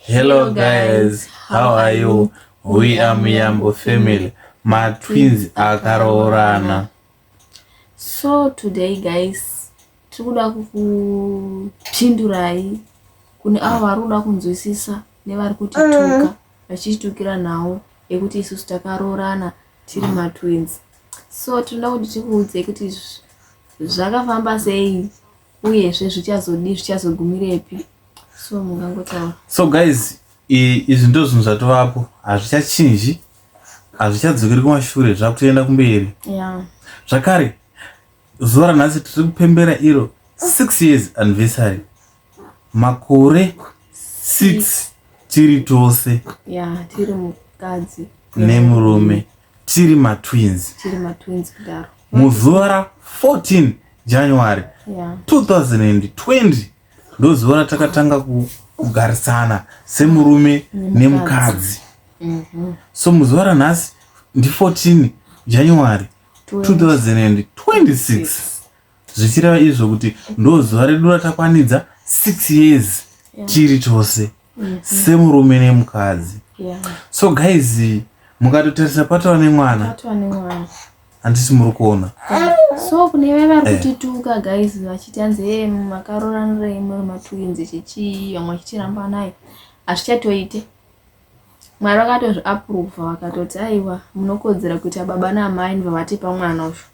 Hello guys, how are you? We are Muyambo family. My twins akaroorana. So today guys, tikuda kukupindurai kune avo vari kuda kunzwisisa nevari kutituka mm. vachichitukira nhau yekuti isusu takaroorana tiri matwins. So tinoda kuti tikuudzei kuti zvakafamba sei uyezve zvichazodii zvichazogumirepi. so mungangotaura so guys izvi ndo zvinhu zvatovapo hazvichachinji hazvichadzokeri kumashure zvakutoenda kumberi zvakare zuva ranhasi tiri kupembera iro six years anniversary makore six tiri tose nemurume tiri matwins muzuva ra 14 january 2020 ndozuva ratakatanga kugarisana semurume nemukadzi mhm. so muzuva ranhasi ndi14 january 2026 zvichireva izvo kuti ndozuva redu ratakwanidza 6 years tiri tose mm-hmm. semurume nemukadzi yeah. so guys mukatotarisa patova nemwana handisi muri kuona so kune vave vari eh. kutituka guys vachiti hanzi e eh, makaroranirei muri matwins chichii vamwe vachitiramba naye hazvichatoite mwari vakatozviaprova vakatoti aiwa munokodzera kuita baba naamai ndivavatipa mwana uzvo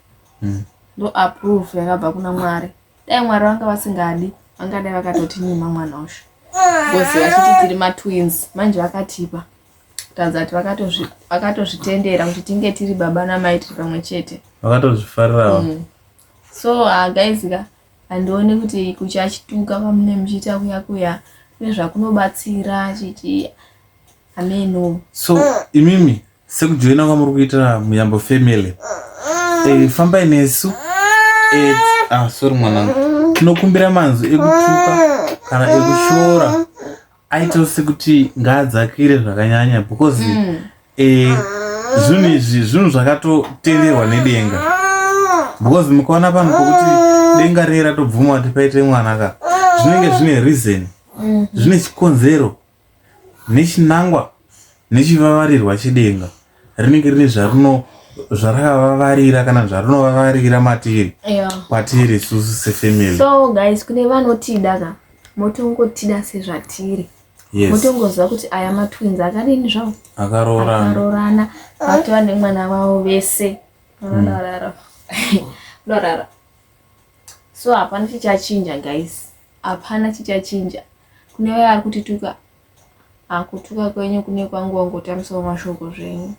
mm. ndo aprove yakabva kuna mwari dai mwari vanga vasingadi vangadai vakatotinyima mwana usho bcoz vachiti tiri matwins manje vakatipa kutanza kuti vakatozvitendera kuti tinge tiri baba namai tiri pamwe chete vakatozvifarirawo mm. so ah, guys ka handioni kuti kuchachituka kwamune muchiita kuya kuya nezvakunobatsira chiti ameno so imimi Sekujoina kwamuri kuita Muyambo family. Eh, fambai nesu. Eh, ah, sorry mwanangu. Tinokumbira manzwi ekutuka kana ekushora aitawo sekuti ngaadzakire zvakanyanya because mm. eh, zvinhu izvi zvinhu zvakatotenderwa nedenga because mukaona pano pokuti denga rei ratobvuma kuti paite mwana ka zvinenge zvine reason mm. zvine chikonzero nechinangwa nechivavarirwa chedenga rinenge rine zvarino zvarakavavarira kana zvarinovavarira matiri yeah. kwatiri isusu sefamily so guys kune vanotida ka motongotida sezvatiri yes. motongoziva kuti aya matwins akadini zvavo akaroorana vatova nemwana vavo vese vanorara mm. so hapana chichachinja guys Hapana chichachinja. Kune vaya vari kutituka, ah, kutuka kwenyu kune kwangu wangotamisawo mashoko zvenyu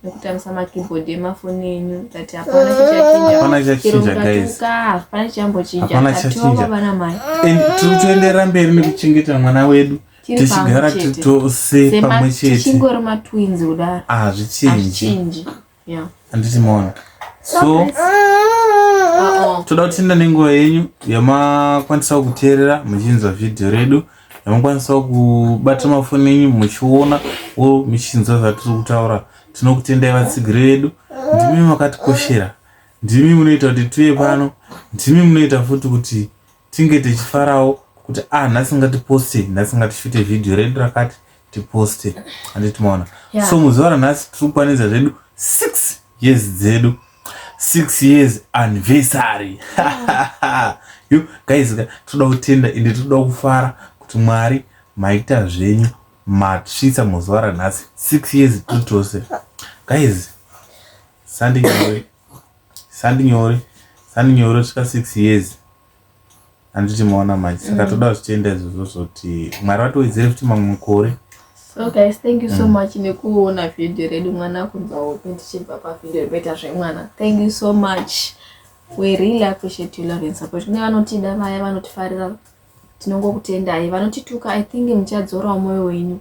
nekutamisa makeyboard emafoni enyu that hapana chichachinja guys hapana chichambochinja atiwanga vana mai and tiri kutoenderera mberi nekuchengeta mwana wedu tichigara tose pamwe chete tichingori matwins kudaro hazvichinji ah, Yeah. handiti maona so Uh-oh. toda kutenda nenguva yenyu yamakwanisawo kuteerera muchinzwa vhidhiyo redu yamakwanisawo kubata mafoni enyu muchiona wo muchinzwa zvatiri kutaura tinokutendai vatsigiri vedu ndimi makatikoshera ndimi munoita kuti tive pano ndimi munoita futi kuti tinge tichifarawo kuti ah nhasi ngatiposte nhasi ngatishuti vhidhiyo redu rakati tiposte handiti maona yeah. so muzuva ranhasi tiri kukwanidza zvedu six years dzedu six years anniversary yeah. yo guys toda kutenda ende toda kufara kuti mwari maita zvenyu matsvitsa muzuva ranhasi six years tutose guys sandinyawe sandi nyore sandi nyore svika six years handiti maona manje saka mm. toda zvichienda izvozvo zvoti mwari vatowedzere futi mamwe mukore so guys thank you so mm. much nekuona vhidhiyo redu mwana kunza hope tichibva pavhidhiyo rekuita zvemwana thank you so much we really appreciate you love and support kune vanotida vaya vanotifarira tinongokutendai vanotituka i think muchadzorawo mwoyo wenyu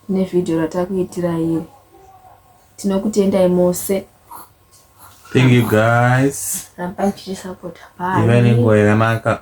nevhidhiyo ratakuitira iri Tinokutendai mose. Thank you guys. Rambai tichi support. Bye. Iva nenguva yakanaka.